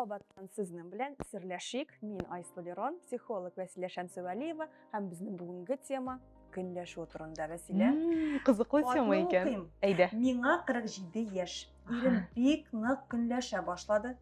Кабаттан сезнең белән серләшик. Мин Айсла Лерон, психолог Вәсилә Шәмсевәлиева һәм безнең бүгенге тема көнләшү турында Вәсилә. Кызыклы тема икән. Әйдә. Миңа 47 яшь. Ирем бик нык көнләшә башлады.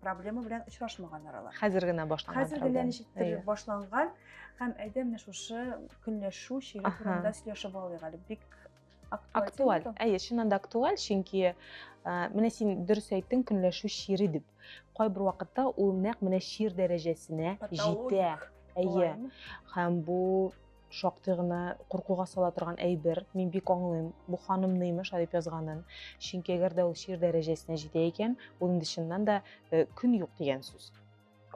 проблема белән очрашмаган аралар. Хәзер генә башланган. Хәзер генә ничектер башланган һәм әйдә менә шушы көнләшү чире турында сөйләшеп алыйк әле. Бик актуаль. Әйе, чыннан да актуаль, чөнки э, менә син дөрес әйттең, көнләшү чире дип. Кайбер вакытта ул нәкъ менә чир дәрәҗәсенә җитә. Әйе. Һәм бу шактый гына куркуга сала торган әйбер мин бик аңлыйм бу ханымны имеш дип язганын чөнки әгәр дә ул шир дәрәҗәсенә җитә икән ул инде чыннан да э, көн юк дигән сүз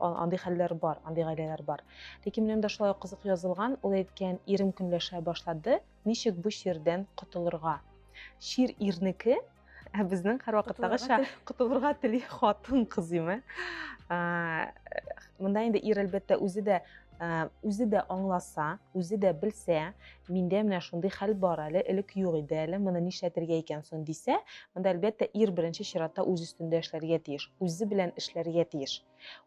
андый хәлләр бар андый гаиләләр бар ләкин менә монда шулай кызык язылган ул әйткән ирем көнләшә башлады ничек бу чирдән котылырга чир ирнеке Ә безнең һәрвакыттагыча котылырга тели хатын кыз име. Монда инде ир әлбәттә үзе дә үзе дә аңласа, үзе дә белсә, миндә менә шундый хәл бар әле, элек юк иде әле, моны нишләтергә икән соң дисә, монда әлбәттә ир беренче чиратта үз өстендә эшләргә тиеш, үзе белән эшләргә тиеш.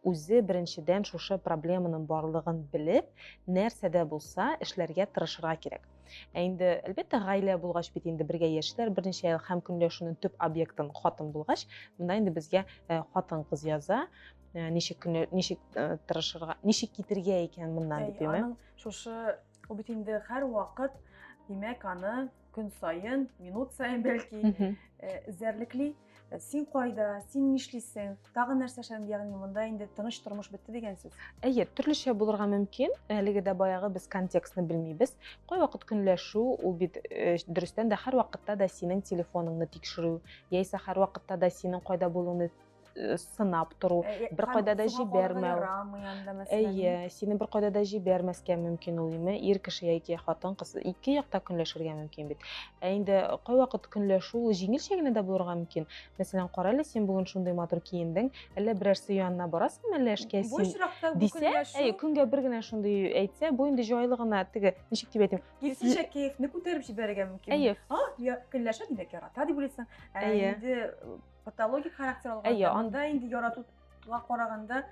Үзе беренчедән шушы проблеманың барлыгын белеп, нәрсә дә булса эшләргә тырышырга кирәк. Ә инде, әлбәттә, гаилә булгач бит инде бергә яшиләр берничә ел һәм көнләшүнең төп объектын хатын булгач, монда инде безгә э, хатын кыз яза, э, ничек көнлә, ничек э, тырышырга, ничек китергә икән моннан дип, әйме? Шушы ул бит инде һәр вакыт, димәк, аны көн саен минут саен бәлки эзәрлекли э, син кайда син нишлисең тагын нәрсә эшләдең ягъни монда инде тыныч тормыш бетте дигән сүз әйе төрлечә булырга мөмкин әлеге дә баягы без контекстны белмибез кайвакыт көнләшү ул бит э, дөрестән дә һәрвакытта да синең телефоныңны тикшерү яисә һәрвакытта да синең кайда булуыңны э, сынап тору э, э, бер кайда да җибәрмәү әйе сине бер кайда да җибәрмәскә мөмкин ул име ир кеше яки хатын кыз ике якта көнләшергә мөмкин бит ә инде кайвакыт көнләшү ул җиңелчә генә дә булырга мөмкин мәсәлән кара әле син бүген шундый матур киендең әллә берәрсе янына барасыңмы әллә эшкә син дисә әйе көнгә бер генә шундый әйтсә бу инде җайлы гына теге ничек дип әйтим киресенчә кәефне күтәреп җибәрергә мөмкин әйе көнләшә димәк ярата дип уйлыйсың ә инде патологик характер алган. Әйе, анда инде яратуга караганда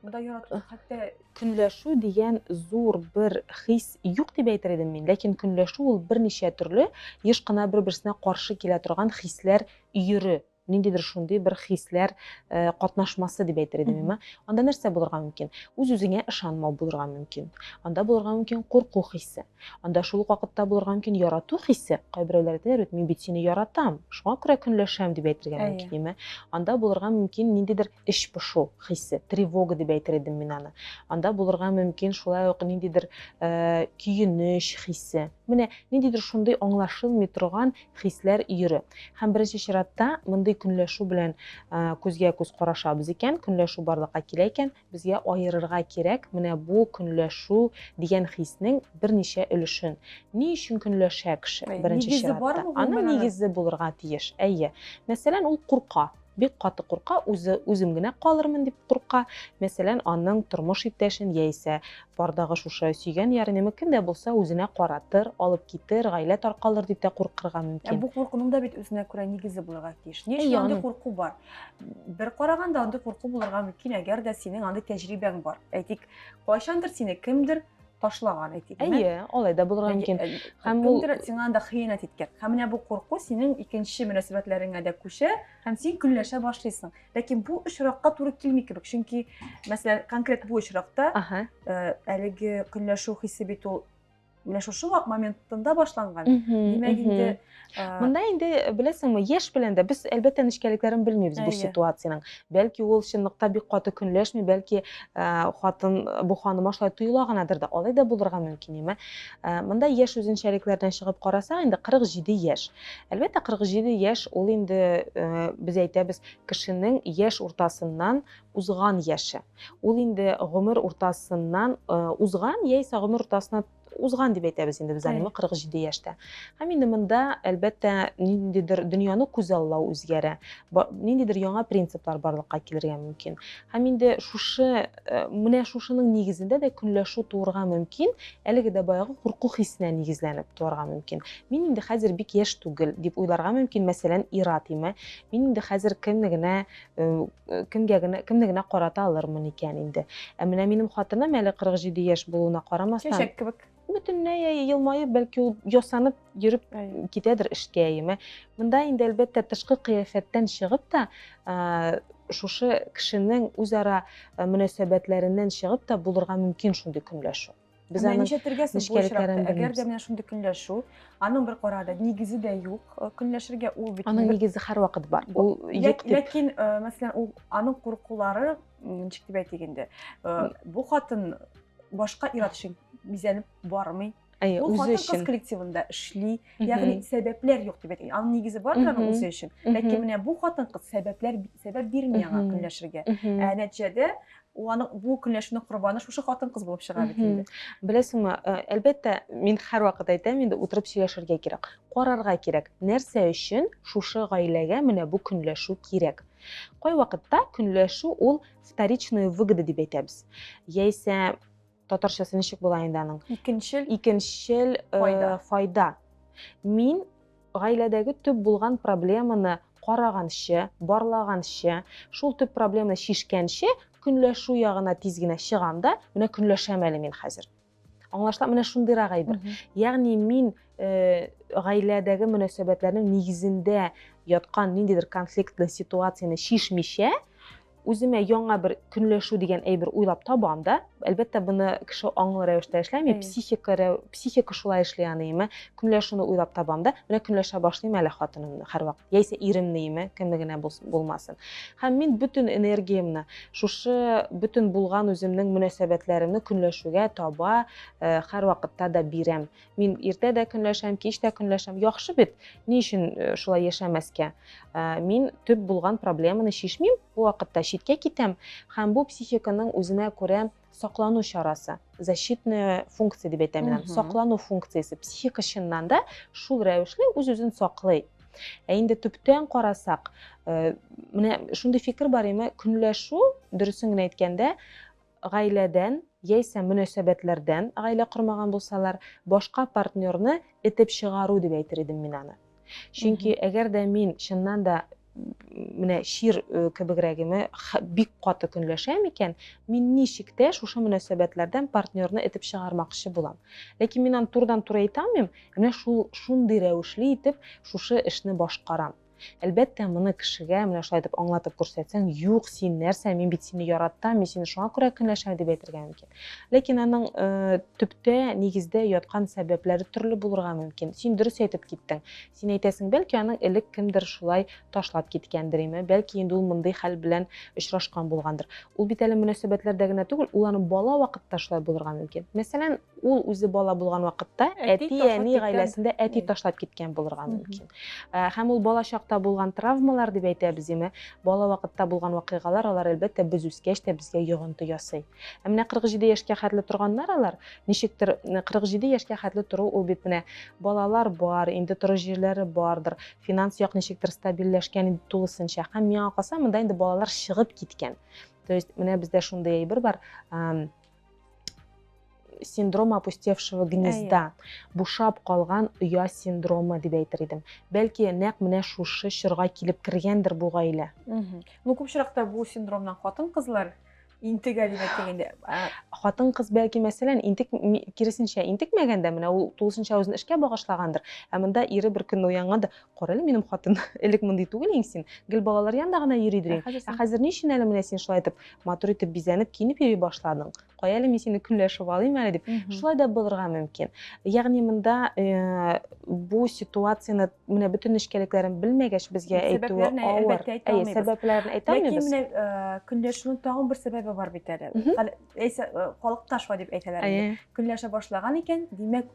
монда ярату хәтта көнләшү дигән зур бер хис юк дип әйтер идем мин, ләкин көнләшү ул берничә төрле еш кына бер-берсенә каршы килә торган хисләр өере ниндидер шундый бер хисләр э, катнашмасы дип әйтер идем мин анда нәрсә булырга мөмкин үз үзеңә ышанмау булырга мөмкин анда булырга мөмкин курку хисе Анда шул ук вакытта булырга мөмкин ярату хисе, кайберәүләр әйтәләр бит, мин бит сине яратам, шуңа күрә көнләшәм дип әйтергә мөмкин, әйме? Анда булырга мөмкин ниндидер эч пошу хисе, тревога дип әйтер идем мин аны. Анда булырга мөмкин шулай ук ниндидер э, көенеч хисе. Менә ниндидер шундый аңлашылмый торган хисләр йөре. Һәм беренче чиратта мондый көнләшү белән э, күзгә күз карашабыз икән, көнләшү барлыкка килә икән, Безгә аерырга кирәк менә бу көнләшү дигән хиснең берничә өлешен. Ни өчен көнләшә кеше, беренче чиратта? Аның нигезе булырга тиеш. Әйе. Мәсәлән, ул курка. Бик каты курка, үзе үзем генә калырмын дип курка. Мәсәлән, аның тормыш иптәшен яисә бардагы шушы сөйгән ярынемы кем дә булса үзенә каратыр, алып китер, гаилә таркалыр дип тә куркырга мөмкин. Ә бу куркуның да бит үзенә күрә нигезе булырга тиеш. Ни өчен андый курку бар? бер караганда андый курку булырга мөмкин әгәр дә синең андый тәҗрибәң бар әйтик кайчандыр сине кемдер ташлаган әйтик әйе алай да булырга мөмкин һәм ул кемдер сиңа анда хыянәт иткән һәм менә бу курку синең икенче мөнәсәбәтләреңә дә күчә һәм син көнләшә башлыйсың ләкин бу очракка туры килми кебек чөнки мәсәлән конкрет бу очракта әлеге көнләшү хисе бит ул менә шушы моментында башланган димәк инде мында инде беләсеңме яшь белән дә без әлбәттә нечкәлекләрен белмибез бу ситуациянең бәлки ул чынлыкта бик каты көнләшми бәлки хатын бу ханыма шулай тоела гынадыр да алай да булырга мөмкин яме мында яшь үзенчәлекләрдән чыгып карасаң инде 47 яшь әлбәттә 47 яшь ул инде без әйтәбез кешенең яшь уртасыннан Узган яше. Ул инде гомер уртасыннан узган яисә гомер уртасына узган дип әйтәбез инде без аны 47 яшьтә. Һәм инде монда, әлбәттә, ниндидер дөньяны күзаллау үзгәрә, ниндидер яңа принциплар барлыкка килергә мөмкин. Һәм инде шушы, э, менә шушының нигезендә дә көнләшү туырга мөмкин, әлеге дә баягы курку хисенә нигезләнеп туарга мөмкин. Мин инде хәзер бик яшь түгел дип уйларга мөмкин, мәсәлән, ир-ат име. Мин инде хәзер кемне генә кемгә генә кемне генә карата алырмын икән инде ә менә минем хатыным әле 47 яшь булуына карамастан чәчәк кебек бөтенләй елмаеп бәлки ул ясанып йөреп китәдер эшкә яме монда инде әлбәттә тышкы кыяфәттән чыгып та шушы кешенең үзара мөнәсәбәтләреннән чыгып та булырга мөмкин шундый көнләшү Без аны ничәтергә сәбәпләре әгәр дә менә шундый көнләшү, аның бер карады, нигезе дә юк, э, көнләшергә ул бит. Аның нигезе һәр вакыт бар. Ул юк дип. Ләкин, э, мәсәлән, ул аның куркулары, ничек дип әйтик инде, э, бу хатын башка ир өчен бизәнеп бармый. Әйе, ул хатын кыз коллективында эшли, ягъни сәбәпләр юк дип әйтик. Аның нигезе бар аның үзе өчен. Ләкин менә бу хатын кыз сәбәпләр сәбәп бирми аңа көнләшергә. Ә нәтиҗәдә Ул аның бу көнләшүнең корбаны шушы хатын-кыз булып чыга бит инде. Беләсеңме, э, әлбәттә, мин һәрвакыт әйтәм, инде утырып сөйләшергә кирәк, карарга кирәк, нәрсә өчен шушы гаиләгә менә бу көнләшү кирәк. Кайвакытта көнләшү ул вторичная выгода дип әйтәбез. Яисә Татарчасы ничек була инде аның? Икенчел. Икенчел файда. файда. Мин гаиләдәге төп булган проблеманы караганчы, барлаганчы, шул төп проблеманы шишкәнче көнләшү ягына тиз генә чыгам да, менә көнләшәм әле мин хәзер. Аңлашыла, менә шундыйрак әйбер. Ягъни мин э, гаиләдәге мөнәсәбәтләрнең нигезендә яткан ниндидер конфликтлы ситуацияне шишмичә, үземә яңа бер көнләшү дигән әйбер уйлап табам да әлбәттә буны кеше аңлы рәвештә эшләми психика психика шулай эшли аныймы көнләшүне уйлап табам да менә көнләшә башлыйм әле хатынымны һәрвакыт яисә иремнеме кемне генә булмасын һәм мин бөтен энергиямне шушы бөтен булган үземнең мөнәсәбәтләремне көнләшүгә таба э, һәрвакытта да бирәм Мин иртә дә көнләшәм, кич тә көнләшәм. Яхшы бит, ни өчен э, шулай яшәмәскә? Э, мин төп булган проблеманы шешмим, бу вакытта читкә китәм, һәм бу психиканың үзенә күрә саклану чарасы, защитная функция дип әйтәм мин, саклану функциясе. Психика чыннан да шул рәвешле үз-үзен саклый. Ә инде төптән карасак, э, менә шундый фикер бар име, көнләшү, дөресен генә әйткәндә, гаиләдән яисә мөнәсәбәтләрдән, гаилә кормаган булсалар, башка партнерны этеп чыгару дип әйтер идем мин аны. Чөнки әгәр дә мин чыннан да менә чир кебегрәгеме бик каты көнләшәм икән, мин ничек тә шушы мөнәсәбәтләрдән партнерны этеп чыгармакчы булам. Ләкин мин аны турыдан-туры әйтә алмыйм, менә шул шундый рәвешле итеп шушы эшне башкарам. Әлбәттә, моны кешегә менә шулай итеп аңлатып күрсәтсәң, юк, син нәрсә, мин бит сине яратам, мин сине шуңа күрә көнләшәм дип әйтергә мөмкин. Ләкин аның э, төптә, нигездә яткан сәбәпләре төрле булырга мөмкин. Син дөрес әйтеп киттең. Син әйтәсең, бәлки аның элек кемдер шулай ташлап киткәндер име, бәлки инде ул мондый хәл белән очрашкан булгандыр. Ул бит әле мөнәсәбәтләрдә генә түгел, ул аның бала вакытта шулай булырга мөмкин. Мәсәлән, Ул үзе бала булган вакытта әти-әни гаиләсендә әти ташлап киткән булырга мөмкин. Һәм ул бала чакта булган травмалар дип әйтәбез име, бала вакытта булган вакыйгалар, алар әлбәттә без үскәч тә безгә йогынты ясый. Ә менә 47 яшькә хәтле торганнар алар, ничектер 47 яшькә хәтле тору ул бит менә балалар бар, инде тору җирләре бардыр, финанс як ничектер стабильләшкән инде тулысынча. Һәм миңа калса, монда инде балалар чыгып киткән. То есть менә бездә шундый әйбер бар, синдром опустевшего гнезда бушап калган оя синдромы дип әйтер идем бәлки нәкъ менә шушы чорга килеп кергәндер бу гаилә ну күп очракта бу синдромнан хатын кызлар интегә дип әйтик инде хатын кыз бәлки мәсәлән интек киресенчә интекмәгәндә менә ул тулысынча үзен эшкә багышлагандыр ә монда ире бер көнне уянганда Кара әле минем хатын, элек мондый түгел инде син. Гел балалар янында гына йөри идең. Ә хәзер ни өчен әле менә син шулай итеп матур итеп бизәнеп, киенеп йөри башладың? Кая әле мин сине көнләшеп алыйм әле дип. Шулай да булырга мөмкин. Ягъни монда э, бу ситуацияне менә бөтен нечкәлекләрен белмәгәч безгә әйтүе авыр. Әйе, сәбәпләрен әйтә алмыйбыз. Ләкин менә э, көнләшүнең тагын бер сәбәбе бар бит әле. Халыкташ ва дип әйтәләр. Көнләшә башлаган икән, димәк,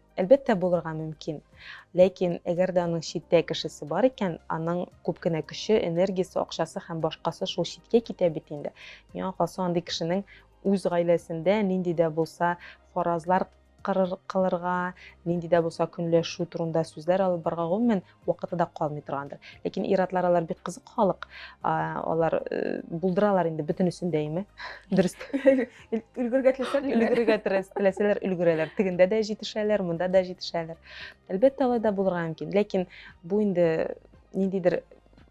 Әлбәттә, булырга мөмкин. Ләкин, әгәр дә аның читтә кешесе бар икән, аның күп кенә көче, энергиясе, акчасы һәм башкасы шул читкә китә бит инде. Миңа калса, андый кешенең үз гаиләсендә нинди дә булса фаразлар кылырга, нинди дә булса көнләшү турында сүзләр алып барырга, гомумән, вакыты да калмый торгандыр. Ләкин ир-атлар алар бик кызык халык. Алар э, булдыралар инде бөтенесен дә име. Дөрес. Өлгергә теләсәләр, өлгергә теләсәләр өлгерәләр. Тегендә дә җитешәләр, монда да җитешәләр. Әлбәттә, алай да булырга мөмкин. Ләкин бу инде ниндидер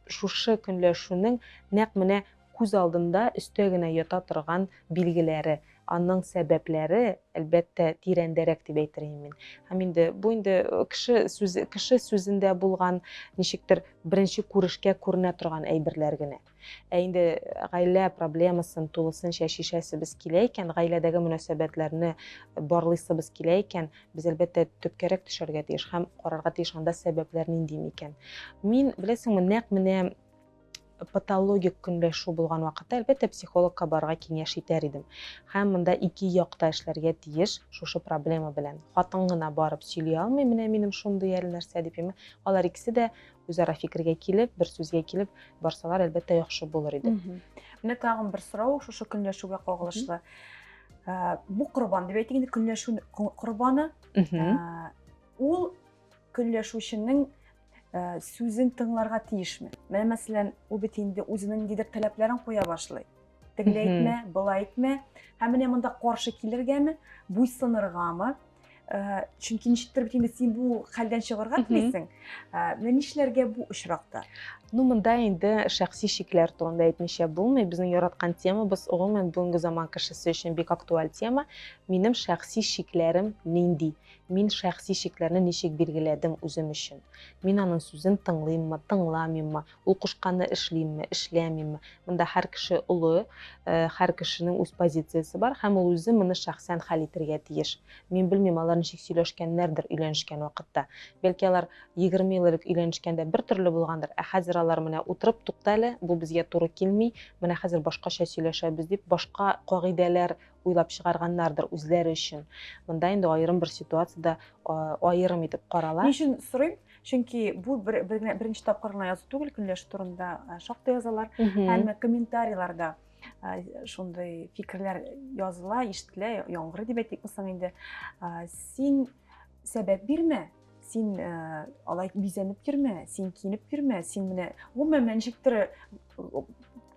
шушы көнләшүнең нәкъ менә Күз алдында өстә генә ята торган билгеләре, аның сәбәпләре, әлбәттә, тирәндәрәк дип әйтер идем мин. Һәм инде бу инде кеше сүзе, кеше сүзендә булган, ничектер беренче күрешкә күренә торган әйберләр генә. Ә инде гаилә проблемасын тулысынча чишәсебез килә икән, гаиләдәге мөнәсәбәтләрне барлыйсыбыз килә икән, без әлбәттә төпкәрәк төшәргә тиеш һәм карарга тиеш анда сәбәпләр нинди микән. Мин, беләсеңме, нәкъ менә патологик көнләшү булган вакытта, әлбәттә, психологка барырга киңәш итәр идем. Һәм монда ике якта эшләргә тиеш шушы проблема белән. Хатын гына барып сөйли алмый, менә минем шундый әле нәрсә дип име. Алар икесе дә үзара фикергә килеп, бер сүзгә килеп барсалар, әлбәттә, яхшы булыр иде. Менә тагын бер сорау шушы көнләшүгә кагылышлы. Ә, бу корбан дип әйтик инде, көнләшү корбаны. Ә, ул көнләшүченең Э, сүзен тыңларга тиешме менә мәсәлән ул бит инде үзенең ниндидер таләпләрен куя башлый тегеләй әйтмә былай әйтмә һәм менә монда каршы килергәме буйсыныргамы э, чөнки ничектер бит инде син бу хәлдән чыгарга телисең э, менә нишләргә бу очракта ну монда инде шәхси шикләр турында әйтмичә булмый безнең яраткан темабыз гомумән бүгенге заман кешесе өчен бик актуаль тема минем шәхси шикләрем нинди Мин шәхси чикләрне ничек билгеләдем үзем өчен? Мин аның сүзен тыңлыйммы, тыңламыйммы, ул кушканны эшлимме, эшләмимме? Монда һәр кеше олы, һәр кешенең үз позициясе бар һәм ул үзе моны шәхсән хәл итергә тиеш. Мин белмим, алар ничек сөйләшкәннәрдер өйләнешкән вакытта. Бәлки алар егерме ел элек өйләнешкәндә бер төрле булгандыр, ә хәзер алар менә утырып, тукта әле, бу безгә туры килми, менә хәзер башкача сөйләшәбез дип, башка кагыйдәләр уйлап чыгарганнардыр үзләре өчен. Монда инде аерым бер ситуацияда аерым итеп карала. Ни өчен сорыйм? Чөнки бу бер, бер, беренче тапкыр гына язу түгел, көнләшү турында шактый язалар. Әмма комментарийларда шундый фикерләр языла, ишетелә, яңгыр дип әйтикме соң инде. Син сәбәп бирмә, син алай бизәнеп йөрмә, син киенеп йөрмә, син менә гомумән ничектер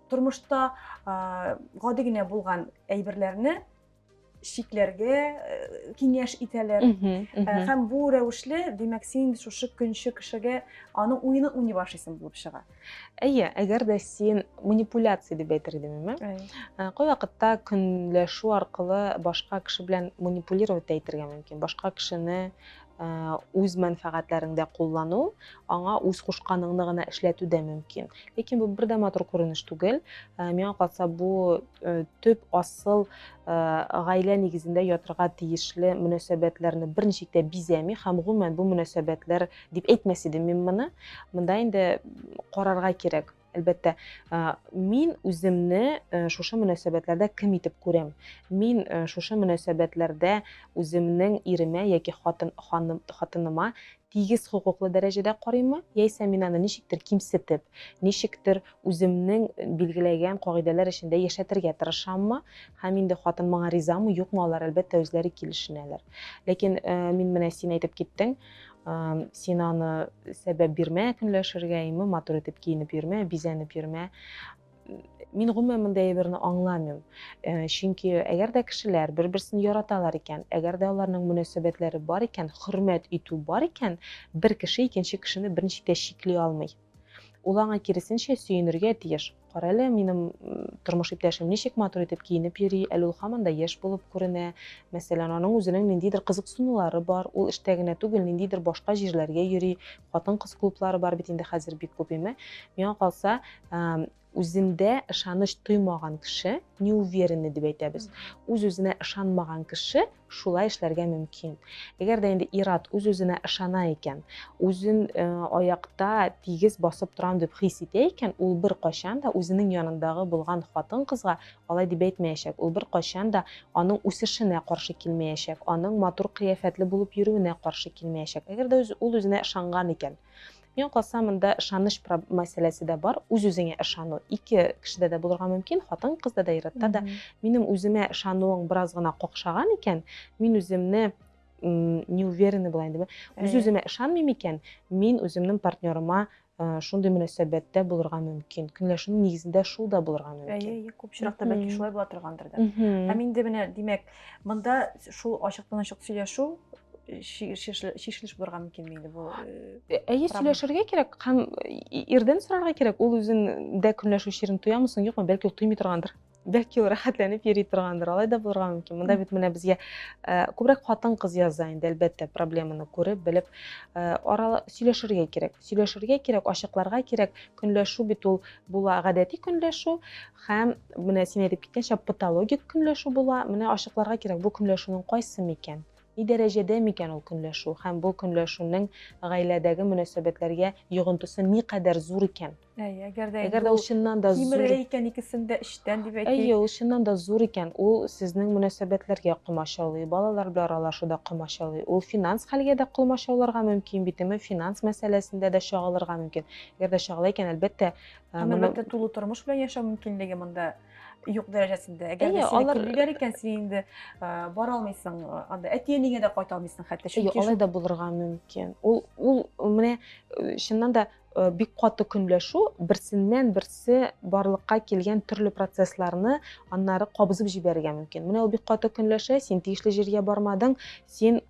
тормышта гади генә булган әйберләрне чикләргә э, киңәш итәләр э, һәм бу рәвешле димәк син шушы көнче кешегә аның уены уйный башлыйсың булып чыга әйе әгәр дә син манипуляция дип әйтер идем ә? Э, кайвакытта көнләшү аркылы башка кеше белән манипулировать әйтергә мөмкин башка кешене Э, үз мәнфәгатьләреңдә куллану аңа үз кушканыңны гына эшләтү дә мөмкин ләкин бу бер дә матур күренеш түгел э, миңа калса бу э, төп асыл гаилә нигезендә ятырга тиешле мөнәсәбәтләрне берничә дә бизәми һәм гомумән бу мөнәсәбәтләр дип әйтмәс идем мин моны монда инде карарга кирәк Әлбәттә, мин үземне шушы мөнәсәбәтләрдә кем итеп күрәм? Мин шушы мөнәсәбәтләрдә үземнең иремә яки хатын ханым хатыныма тигез хокуклы дәрәҗәдә карыймы? Яисә мин аны ничектер кимсетеп, ничектер үземнең билгеләгән кагыйдәләр эчендә яшәтергә тырышаммы? Һәм инде хатын моңа ризамы, юкмы, алар әлбәттә үзләре килешенәләр. Ләкин мин менә син әйтеп киттең, син аны сәбәп бирмә көнләшергә име матур итеп киенеп йөрмә бизәнеп йөрмә мин гомумән мондый әйберне аңламыйм э, чөнки әгәр дә кешеләр бер берсен яраталар икән әгәр дә аларның мөнәсәбәтләре бар икән хөрмәт итү бар икән бер кеше икенче кешене берничек тә чикли алмый Ул аңа киресенчә сөенергә тиеш. Карале, минем тормыш иптәшем ничек матур итеп киенеп йөри, әле ул һаман да яшь булып күренә. Мәсәлән, аның үзенең ниндидер кызыксынулары бар, ул эштә генә түгел, ниндидер башка җирләргә йөри, хатын-кыз клублары бар бит инде хәзер бик күп, име? Миңа калса, Үзендә ышаныч тоймаган кеше, неуверенный дип әйтәбез, үз-үзенә ышанмаган кеше шулай эшләргә мөмкин. Әгәр дә инде ир-ат үз-үзенә ышана икән, үзен аякта тигез басып торам дип хис итә икән, ул беркайчан да үзенең янындагы булган хатын-кызга алай дип әйтмәячәк, ул беркайчан да аның үсешенә каршы килмәячәк, аның матур кыяфәтле булып йөрүенә каршы килмәячәк. Әгәр дә ул үзенә ышанган икән, Миңа калса, монда ышаныч мәсьәләсе дә бар, үз-үзеңә ышану. Ике кешедә дә булырга мөмкин, хатын-кызда да, ир-атта да. Минем үземә ышануың бераз гына какшаган икән, мин үземне неуверенный була инде. Үз-үземә ышанмыйм икән, мин үземнең партнерыма Э, шундый мөнәсәбәттә булырга мөмкин көнләшүнең нигезендә шул да булырга мөмкин әйе күп очракта бәлки шулай була торгандыр да һәм инде менә димәк Монда шул ачыктан-ачык сөйләшү шешелеш булырга мөмкин инде бу әйе сөйләшергә кирәк һәм ирдән сорарга кирәк ул үзен дә көнләшү чирен тоямы соң юкмы бәлки ул тоймый торгандыр бәлки ул рәхәтләнеп йөри торгандыр алай да булырга мөмкин монда бит менә безгә күбрәк хатын кыз яза инде әлбәттә проблеманы күреп белеп арала сөйләшергә кирәк сөйләшергә кирәк ачыкларга кирәк көнләшү бит ул була гадәти көнләшү Һәм, менә син әйтеп киткәнчә, патологик көнләшү була. Менә ачыкларга кирәк, бу көнләшүнең кайсы микән? Ни дәрәҗәдә микән ул көнләшү? Һәм бу көнләшүнең гаиләдәге мөнәсәбәтләргә йогынтысы никадәр зур икән? Әйе, әгәр дә әгәр дә ул чыннан да зур кимерә икән икесен дә эчтән, дип әйтик. Әйе, ул чыннан да зур икән, ул сезнең мөнәсәбәтләргә комачаулый, балалар белән аралашуда комачаулый, ул финанс хәлгә дә комачауларга мөмкин бит, финанс мәсьәләсендә дә чагылырга мөмкин. Әгәр дә чагыла икән, әлбәттә, Ә Һәм, моның- әлбәттә, тулы тормыш белән яшәү мөмкинлеге монда юк дәрәҗәсендә. Әгәр Әйе, дә сине алар- килмиләр икән, син инде а, бара алмыйсың, а, анда әти-әнигә дә кайта алмыйсың хәтта. Әйе, Чөнки алай шул да булырга мөмкин. Ул, ул менә э, чыннан да э, бик каты көнләшү берсеннән берсе барлыкка килгән төрле процессларны аннары кабызып җибәрергә мөмкин. Менә ул бик каты көнләшә, син тиешле җиргә бармадың, син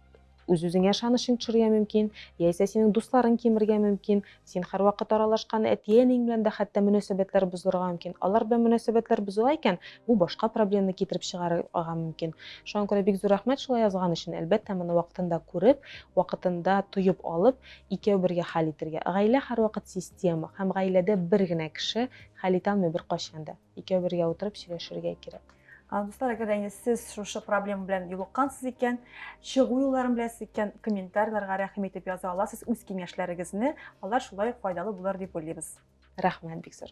Үз-үзеңә ышанычың төшәргә мөмкин, яисә синең дусларың кимергә мөмкин, син һәрвакыт аралашкан әти-әниең белән дә хәтта мөнәсәбәтләр бозылырга мөмкин. Алар белән мөнәсәбәтләр бозыла икән, бу башка проблеманы китереп чыгарырга мөмкин. Шуңа күрә бик зур рәхмәт шулай язган өчен. Әлбәттә, моны вакытында күреп, вакытында тоеп алып, икәү бергә хәл итәргә. Гаилә һәрвакыт система, һәм гаиләдә бер генә кеше хәл итә алмый беркайчан да. икәү бергә утырып сөйләшергә кирәк. Дуслар, әгәр дә сез шушы проблема белән юлыккансыз икән, чыгу юлларын беләсез икән, комментарийларга рәхим итеп яза аласыз үз киңәшләрегезне, алар шулай ук файдалы булыр дип уйлыйбыз. Рәхмәт бик зур.